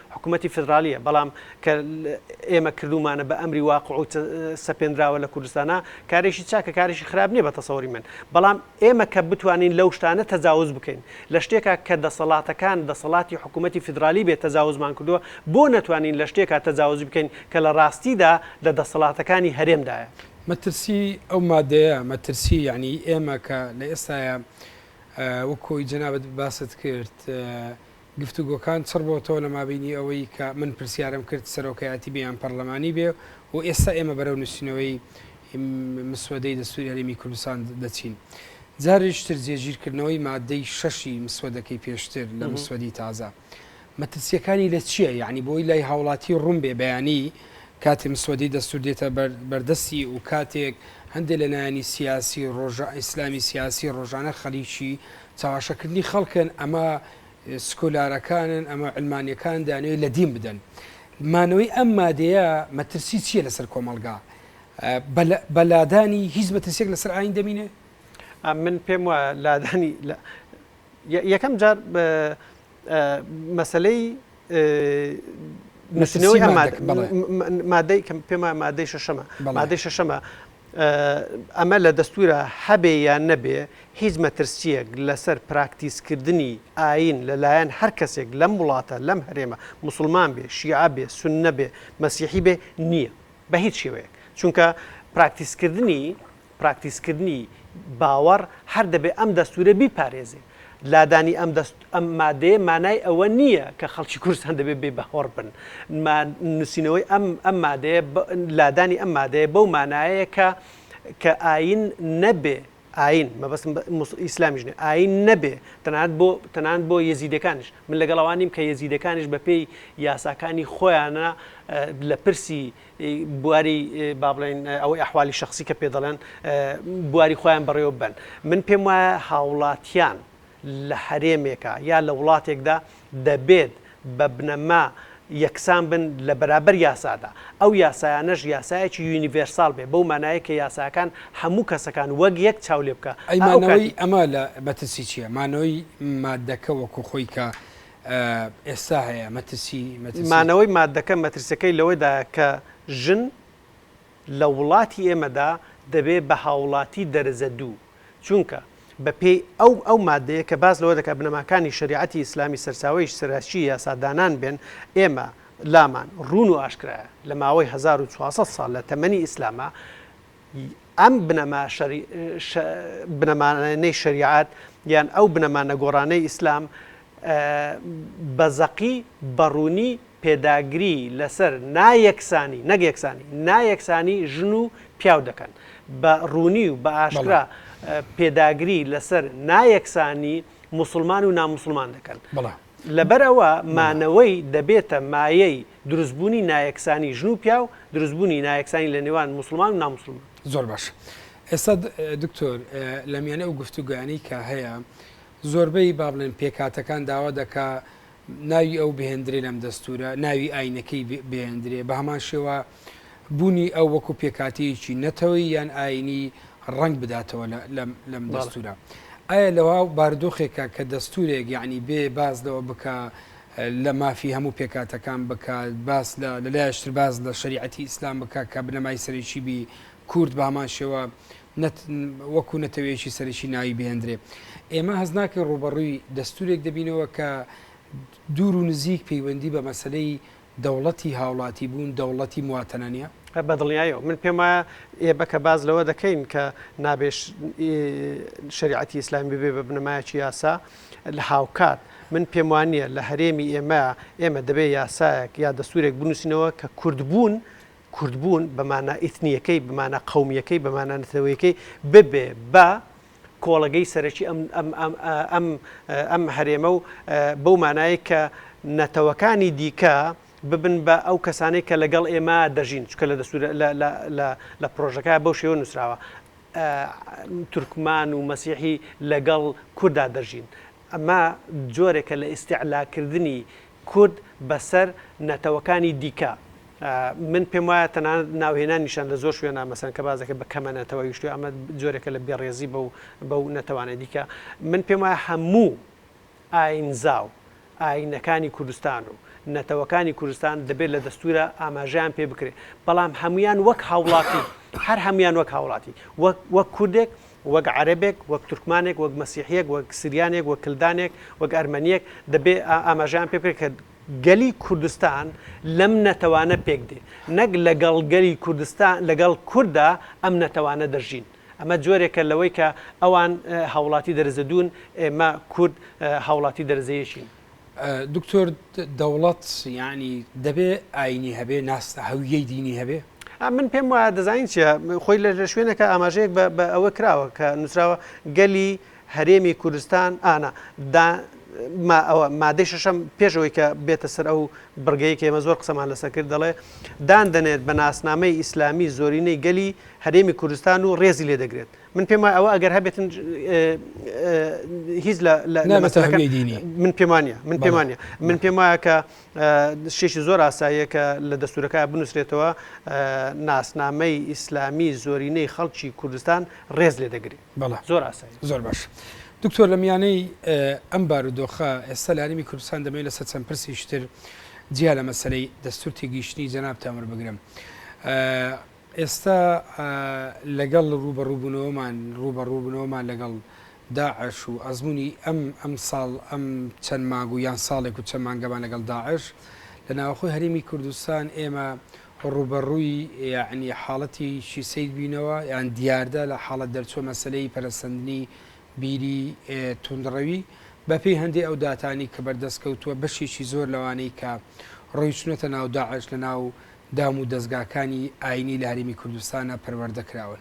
حکومەتی فیدرالیە بەڵام کە ئێمە کردومانە بە ئەمری واقع و سەپێنراوە لە کوردستانە کارێکی چاکە کارێکی خراپ نیە بە تەسەوری من بەڵام ئێمە کە بتوانین لەو شتانە تەجاوز بکەین لە شتێکا کە دەسەڵاتەکان دەسەڵاتی حکوومەتتی فیدرالی بێت تەجاوزمان کردووە بۆ نەتوانین لە شتێکا تەجاوز بکەین کە لە ڕاستیدا لە دەسەڵاتەکانی هەرێمدایە. مەترسی ئەو مادەیە مەترسی یعنی ئێمە کە لە ئێستایا وەکۆی جەنابت باست کرد گفتوگۆکان چڕ بۆتەوە لە مابینی ئەوەی کە من پرسیارم کرد سەرۆکایەتی بێ یان پەڕلەمانی بێ و ئێستا ئێمە بەرەو نوسینەوەی مسوەدەی دەستوری هەرێمی کوردستان دەچین جاریش تر جێگیر کردنەوەی مادەی شەشی مسوەدەکەی پێشتر لە مسوەدی تازە مەترسیەکانی لە چییە یعنی بۆی لای هاوڵاتی ڕوون بێ بەیانی کاتێ مسوەدی دەستور دێتە بەردەستی و کاتێک هەندێک لە نانی سیاسی ڕۆژە ئیسلامی سیاسی ڕۆژانە خەریکی چەواشەکردنی خەڵکن ئەمە سکۆلارەکانن ئەمە علمانیەکان دانێ لە دین بدەن مانەوەی ئەم مادەیە مەترسی چییە لەسەر کۆمەلگا بەلادانی هیچ مەترسێک لەسەر ئاین دەمینێ من پێم وایە لادانی یەکەم جار مەسەلەی نووسینەوەی ئەم مادە- مادەکە، بەڵێ. م- م- مادەی کە پێم وایە مادەی شەشەمە بەڵێ. مادەی شەشەمە ئە، ئەمە لە دەستوورا هەبێ یان نەبێ هیچ مەترسییەک لەسەر پراکتیسکردنی ئایین لەلایەن هەر کەسێک لەم وڵاتە لەم هەرێمە موسڵمان بێ شیعە بێ سوننە بێ مەسیحی بێ نییە بە هیچ شێوەیەک چونکە پراکتیسکردنی پراکتیزکردنی باوەڕ هەر دەبێ ئەم دەستوورە بیپارێزێ. لادانی ئەم دەست ئەم مادەیە مانای ئەوە نییە کە خەڵکی کوردستان دەبێ بێ باوەڕ بن. ما نووسینەوەی ئەم ئەم مادەیە بە لادانی ئەم مادەیە بەو مانایەیە کە کە ئایین نەبێ ئایین مەبەستم بە موس ئیسلامیش نییە ئایین نەبێ تەنانەت بۆ تەنانەت بۆ یەزیدەکانیش. من لەگەڵ ئەوە نیم کە یەزیدەکانیش بەپێی یاساکانی خۆیانە لە پرسی بواری با بڵێین ئەوەی ئەحوالی شەخسی کە پێ دەڵێن بواری خۆیان بەڕێوە ببەن من پێم وایە هاوڵاتیان لە هەرێمێکە یا لە وڵاتێکدا دەبێت بە بنەما یەکسان بن لە بەرابەر یاسادا ئەو یاسایانەش یاسایەکی یونیڤرسال بێ بەو مانایە کە یاساکان هەموو کەسەکان وەک یەک چاو لێ بکە ئەمانەوەی ئەمە لە مەترسی چییە مانەوەی مادەکە وەکو خۆی کە ئێستا هەیە مەترسی مەترسی. مانەوەی ماددەکە مەترسیەکەی لەوەدایە کە ژن لە وڵاتی ئێمەدا دەبێ بە هاوڵاتی دەرەجە دوو چونکە بە پێی ئەو ئەو مادەیە کە باس لەوە دەکات بنەماکانی شەریعەتی ئیسلامی سەرچاوەی سەرەکی یاسادانان بێن ئێمە لامان ڕوون و ئاشکرایە لە ماوەی هەزار و چوار سەد ساڵ لە تەمەنی ئیسلاما ی ئەم بنەما شەری شە بنەما نەی شەریعەت یان ئەو بنەما نەگۆڕانەی ئیسلام ئە بە زەقی بە ڕوونی پێداگری لە سەر نا یەکسانی نەک یەکسانی نا یەکسانی ژن و پیاو دەکەن بە ڕوونی و بە ئاشکرا پێداگری لە سەر نا یەکسانی موسڵمان و ناموسڵمان دەکەن بەڵام. لەبەر ئەوە مانەوەی دەبێتە مایەی دروستبوونی نایەکسانی ژن و پیاو، دروستبوونی نایەکسانی لە نێوان موسڵمان و ناموسڵمان. زۆر باش ئێستا دکتۆر لە میانەی ئەو گفتوگانی کە هەیە زۆربەی با بڵێن پێکاتەکان داوا دەکا ناوی ئەو بهێندرێ لەم دەستورە ناوی ئاینەکەی بێندرێ بە هەمان شێوە بوونی ئەو وەکو پێکاتەیەکی نەتەوەی یان ئاینی ڕەنگ بداتەوە لەم دەستورە ئایا لەوا باردۆخێکە کە دەستورێک یعنی بێ باز لەوە بکە لە مافی هەموو پێکاتەکان بکات باس لە لەلایشتر باز لە شریعەتی ئیسلام بکە کە بنەمای سەرێکی بی کورد بە هەمان شێوە وەکو نەتەوەیەکی سەرەکی ناوی بهێندرێ ئێمە هەز ناکەین ڕوبەڕووی دەستورێک دەبینەوە کە دوور و نزیک پەیوەندی بە مەسلەی دەوڵەتی هاوڵاتی بوون دەوڵەتی مواتەنە نیە؟ بەدڵنیایەوە من پێم وایە ئێ بەکە باس لەوە دەکەین کە نابێ شەریعەتی ئیسلام ببێ بە بنەمایەکی یاسا لە هاوکات من پێم وانە لە هەرێمی ئێمە ئێمە دەبێ یاسایەک یا دەسوورێک بنووسینەوە کە کوردبوون کوردبوون بەمانە ئیتنیەکەی بمانە قومیەکەی بەمانە نەتەوەیەکەی ببێ بە کۆڵەگەی سەرەکی ئەم ئەم ئەم ئەم ئەم هەرێمە و بەو مانایە کە نەتەوەکانی دیکە ببن بە ئەو کەسانەی کە لەگەڵ ئێمە دەژین چکە لە دەسوور لە پرۆژەکە بەو شێوە نووسراوە تورکمان و مەسیحی لەگەڵ کوردا دەژین ئەمە جۆرێکە لە ئیستیعلاکردنی کورد بەسەر نەتەوەکانی دیکە. من پێم وایە تەنانەت ناوهێنانیشیان لە زۆر شوێنا مەسەن کە باس دەکرێت بە کەمە نەتەوەیی شتوێ ئەمە جۆرێکە لە بێڕێزی بەو بەو نەتەوانە دیکە. من پێم وایە هەموو ئایینزا و ئایینەکانی کوردستان و نەتەوەکانی کوردستان دەبێت لە دەستوورا ئاماژەیان پێ بکرێت، بەڵام هەموویان وەک هاوڵاتی، هەر هەموویان وەک هاوڵاتی، وەک وەک کوردێک وەک عەرەبێک، وەک تورکمانێک، وەک مەسیحییەک، وەک سریانێک، وەک کلدانێک، وەک ئەرمەنییەک، دەبێ ئاماژەیان پێ بکرێت کە گەلی کوردستان لەم نەتەوانە پێک دێ، نەک لەگەڵ گەلی کوردستان، لەگەڵ کوردا ئەم نەتەوانە دەژین. ئەمە جۆرێکە لەوەی کە ئەوان هاوڵاتی دەرەجە دوون، ئێمە کورد هاوڵاتی دەرەجە یەکین. دکتۆر دەوڵەت یعنی دەبێ ئاینی هەبێ ناستە هەویەی دینی هەبێ من پێم وایە دەزانین چیە خۆی لە لە شوێنەکە ئاماژەیەک بە ئەوە کراوە کە نووسراوە گەلی هەرێمی کوردستان ئانا ئەوە مادەی شەشەم پێشەوەی کە بێتە سەر ئەو بڕگەی کە ئێمە زۆر قسەمان لەسەر کرد دەڵێ دان دەنێت بە ناسنامەی ئیسلامی زۆرینەی گەلی هەرێمی کوردستان و ڕێزی لێ دەگرێت من پێم وایە ئەوە ئەگەر هەبێتن هیچ لە مەسەلەکەی دینی من پێمانە من پێمانە من پێم وایە کە شێشی زۆر ئاساییە کە لە دەستورەکە بنووسرێتەوە ناسنامەی ئیسلامی زۆرینەی خەڵکی کوردستان ڕێز لێ دەگری بەڵە زۆر ئاسایی زۆر باش. دکتۆر لە میانەی ئەم بارودۆخە ئێستا لانیمی کوردستان دەمێ لە سە چەند پرسیشتر جیا لە مەسلەی دەستور تێگەیشتنی جەنابتان وەربگرم. ئێستا لەگەڵ ڕووبەڕووبوونەوەمان ڕووبەڕووبوونەوەمان لەگەڵ داعش و ئەزموونی ئەم ئەمساڵ ئەم چەند مانگ و یان ساڵێک و چەند مانگەمان لەگەڵ داعش لە ناوەخۆی هەرێمی کوردستان ئێمە ڕووبەڕووی یانی حاڵەتێکی سەیر بووینەوە یان دیاردە لە حاڵەت دەرچووە مەسەلەی پەرەسەندنی بیری توندڕەوی بەپێی هەندێک ئەو داتانی کە بەردەست کەوتووە بەشێکی زۆر لەوانەی کە ڕۆیشتونەتە ناو داعش لە ناو دام و دەزگاکانی ئاینی لە هەرێمی کوردستانە پەروەردە کراون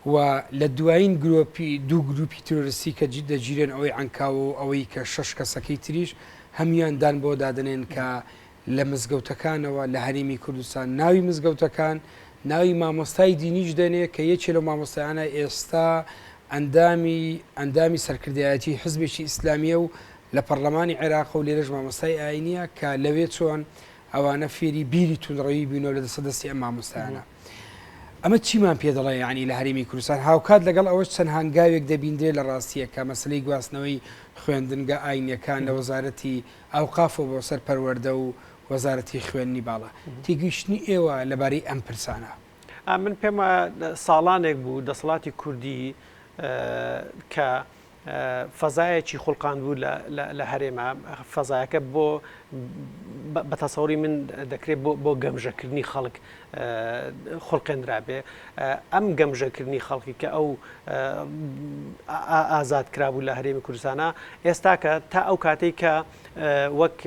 و لە دوایین گرۆپی دوو گروپی ترۆریستی کە جد دەگیرێن ئەوەی ئەنکاوە و ئەوەی کە شش کەسەکەی تریش هەموان دان بۆ دادنێن کە لە مزگەوتەکانەوە لە هەرێمی کوردستان ناوی مزگەوتەکان ناوی مامۆستای دینیش دەنێ کە یەکێ لە مامۆستایانە ئێستا ئەندامی ئەندامی سەرکردایەتی حزبێکی ئیسلامیە و لە پەرلەمانی عێراق و لێرەش مامۆستای ئاینیە کە لەوێ چۆن ئەوانە فێری بیری توندڕەوی بوونەوە لە دەسە دەستی ئەم مامۆستایانە ئەمە چیمان پێ دەڵێ ینی لە هەرمی کوردستان هاوکات لەگەڵ ئەوەش چەند هەنگاوێک دەبیندرێ لە ڕاستیە کە مەسلەی گواستنەوەی خوێندنگە ئاینەکان لە وەزارەتی ئەو قافۆ بۆ سەر پەروەەردە و وەزارەتی خوێندنی باڵا تێگەیشتنی ئێوە لەبارەی ئەم پرسانە من پێم ساڵانێک بوو دەسەڵاتی کوردی کە فەزایەکی خوڵقاندبوو لە هەرێما فەزایەکە بۆ بە تەسەوری من دەکرێت بۆ گەمژەکردنی خەڵک خوڵقێنرابێ ئەم گەمژەکردنی خەڵکی کە ئەو ئازاد کرابوو لە هەرێمی کوردستانە ئێستاکە تا ئەو کاتێک کە وەک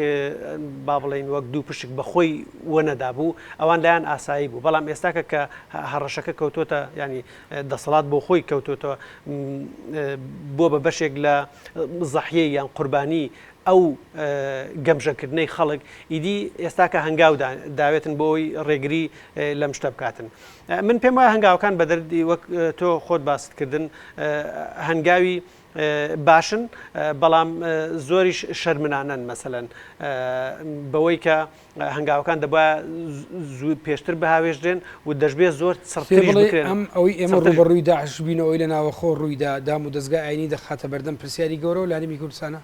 با بڵێین وەک دوو پشک بە خۆی وەنەدابوو ئەوان لایەن ئاسایی بوو بەڵام ئێستاکە کە هەڕەشەکە کەوتۆتە ینی دەسەڵات بۆ خۆی کەوتۆتەوە بۆ بە بەشێک لە زەحیە یان قوربانی ئەو گەمژەکردنەی خەڵک ئیدی ئێستاکە هەنگاودا داوێتن بۆی ڕێگری لەم شتە بکاتن من پێم وایە هەنگاوەکان بە دەردی وەک تۆ خۆت باستکردن هەنگاوی باشن بەڵام زۆریش شەرمنانەن مەسەلەن بەوەی کە هەنگاوەکان دەبە زوو پێشتر بهاوێژرێن و دەشبێت زۆر ئەم ئەوەی ئێمە ڕوبڕووی داعش بینەوەی لە ناوەخۆ ڕوویدا دام و دەستگای ئاینی دەخاتە بەردەم پرسیاری گەورە و لانیمی کوردستانە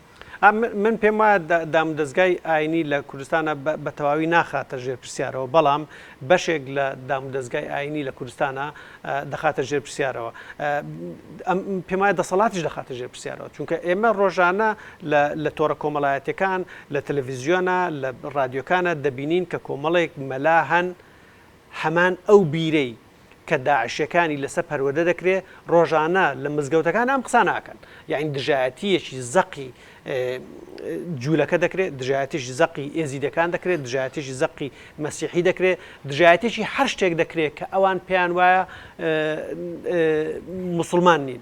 من پێم وایە دامودەزگای ئاینی لە کوردستانا بە تەواوی ناخاتە ژێر پرسیارەوە بەڵام بەشێک لە دامودەزگای ئاینی لە کوردستانا دەخاتە ژێر پرسیارەوە پێم وایە دەسەڵاتیش دەخاتە ژێر پرسیارەوە چونکە ئێمە ڕۆژانە لە تۆڕە کۆمەڵایەتەکان لە تەلەڤیزیۆنە لە ڕادیۆکانە دەبینین کە کۆمەڵێک مەلا هەن هەمان ئەو بیرەی کە داعشیەکانی لەسەر پەروەردە دەکرێ ڕۆژانە لە مزگەوتەکان ئەم قساناکەن یاعنی دژایەتیەکی زەقی جوولەکە دەکرێت دژایەتیش زەقی ئێزیدەکان دەکرێت دژایەتیش زەقی مەسیحی دەکرێت دژایەتێکی هەر شتێک دەکرێت کە ئەوان پێیان وایە مسلمان نین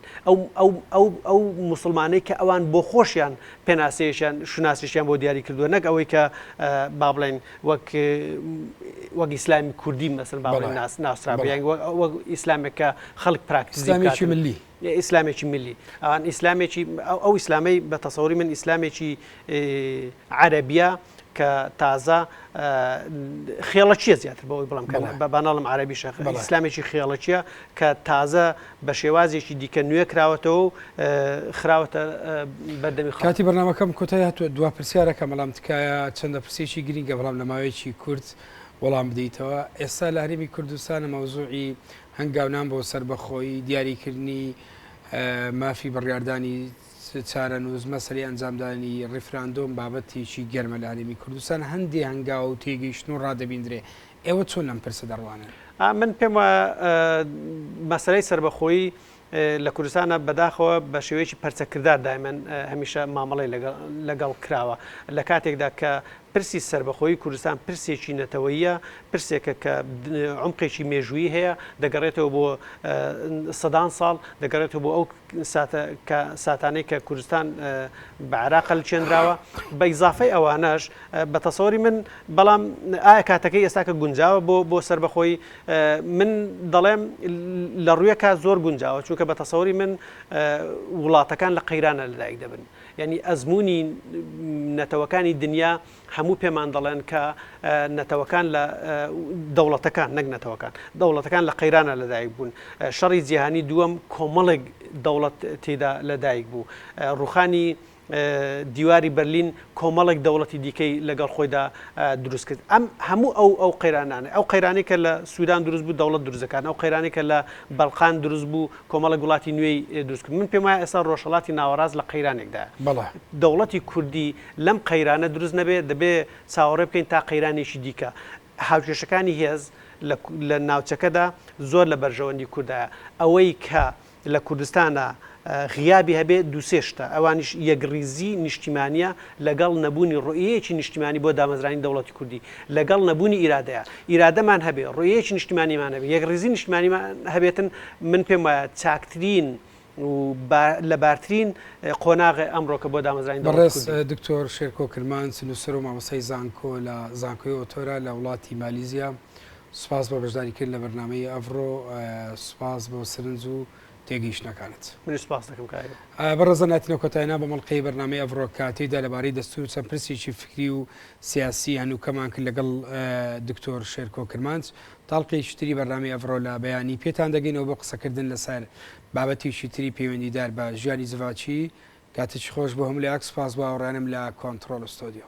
ئەو مسلمانەی کە ئەوان بۆ خۆشیان پێناسەیەشیان شوناسیشیان بۆ دیاری کردووە نەک ئەوەی کە با بڵێن وەک وەک ئیسلامی کوردی مەسەن با بڵێین ناسرابێ یان وەک ئیسلامێک کە خەڵک پراکتیزی بکات ئیسلامێکی ملی ئیسلامێکی ملی ئەوان ئیسلامێکی ئەو ئەو ئیسلامەی بە تەسەوری من ئیسلامێکی عەرەبیە کە تازە خێڵەکییە زیاتر بەوەی بڵێم کە بە باناڵم عەرەبی شەخ ئیسلامێکی خێڵەکییە کە تازە بە شێوازێکی دیکە نوێ کراوەتەوە و خراوەتە بەردەمی خەڵک. کاتی بەرنامەکەم کۆتای هاتووە، دوا پرسیارەکە بەڵام تکایە چەندە پرسیەکی گرینگە بەڵام لە ماوەیەکی کورت وەڵام بدەیتەوە، ئێستا لە هەرێمی کوردستان مەوزوعی هەنگاونان بۆ سەربەخۆیی، دیاری کردنی مافی بڕیاردانی چارەنووس، مەسەلەی ئەنجامدانی ڕیفراندۆم بابەتێکی گەرمە لە هەرێمی کوردستان، هەندێ هەنگاو و تێگەیشتن و ڕا دەبیندرێ ئێوە چۆن لەم پرسە دەڕوانن؟ من پێم وایە مەسەلەی سەربەخۆیی لە کوردستانا بەداخەوە بە شێوەیەکی پەرچەکردار دایمەن هەمیشە مامەڵەی لەگەڵ کراوە لە کاتێکدا کە پرسی سەربەخۆیی کوردستان پرسێکی نەتەوەیە پرسێکە کە عمقێکی مێژووی هەیە دەگەڕێتەوە بۆ سەدان ساڵ دەگەڕێتەوە بۆ ئەو ساتانەی کە کوردستان بە عراق لچێنراوە بە ئیزافەی ئەوانەش بە تەسەوری من بەڵام ئایا کاتەکەی ئێستاکە گونجاوە بۆ بۆ سەربەخۆی من دەڵێم لە ڕویە کات زۆر گونجاوە چونکە بە تەسەوری من وڵاتەکان لە قەیرانە لەدایک دەبن یعنی ئەزمموی نەتەوەکانی دنیا هەموو پێمان دەڵێن کە نەتەوەکان لە دەوڵەتەکان نەک نەتەوەکان دەوڵەتەکان لە قەیرانە لەدایک بوون شەڕی جیهانی دووەم کۆمەڵێک دەوڵەت تێدا لەدایک بوو ڕوخانی دیواری بەرلین کۆمەڵێک دەوڵەتی دیکەی لەگەڵ خۆیدا دروست کرد. ئەم هەموو ئەو ئەو قەیرانانە، ئەو قەیرانەی کە لە سوودان دروست بوو دەوڵەت دروست دەکات، ئەو قەیرانەی کە لە بەلقان دروست بوو کۆمەڵێک وڵاتی نوێی دروست کرد. من پێم وایە ئێستا ڕۆژهەڵاتی ناوەڕاست لە قەیرانێکدایە. دەوڵەتی کوردی لەم قەیرانە دروست نەبێ دەبێ چاوەڕێ بکەین تا قەیرانێکی دیکە. هاوکێشەکانی هێز لە ناوچەکەدا زۆر لە بەرژەوەندی کوردایە. ئەوەی کە لە کوردستانا غیابی هەبێ دوو سێ شتە، ئەوانیش یەکڕیزی نیشتیمانییە لەگەڵ نەبوونی ڕۆیەیەکی نیشتیمانی بۆ دامەزرانی دەوڵەتی کوردی لەگەڵ نەبوونی ئیرادەیە، ئیرادەمان هەبێ، ڕۆیەیەکی نیشتیمانیمان هەبێ، یەکڕیزی نیشتیمانیمان هەبێتن من پێم وایە چاکترین و لەبارترین قۆناغە ئەمڕۆکە بۆ دامەزرانی دەوڵەتی کوردی. بەڕێز دکتۆر شێرکۆ کرمانج، نووسەر و مامۆستای زانکۆ لە زانکۆی ئۆتۆرا لە وڵاتی مالیزیا سپاس بۆ بەشداری کردن لە بەرنامەی ئەڤڕۆ سپاس بۆ سرنج و تێگەیشتنەکانت. منیش سپاست دەکەم کایرۆ. بەڕێزان هاتینە کۆتاینا بە مەڵقەی بەرنامەی ئەڤڕۆ کە تێیدا لەبارەی دەستوور چەند پرسێکی فکری و سیاسی هەنووکەمان کرد لەگەڵ دکتۆر شێرکۆ کرمانج تاڵقێکی تری بەرنامەی ئەڤڕۆ لە بەیانی پێتان دەگەینەوە بۆ قسەکردن لەسەر بابەتێکی تری پەیوەندیدار بە ژیانی جڤاکی کاتێکی خۆش بۆ هەموو لایەک سپاس بۆ هاوڕێیانم لە کۆنتڕۆڵ ستۆدیۆ.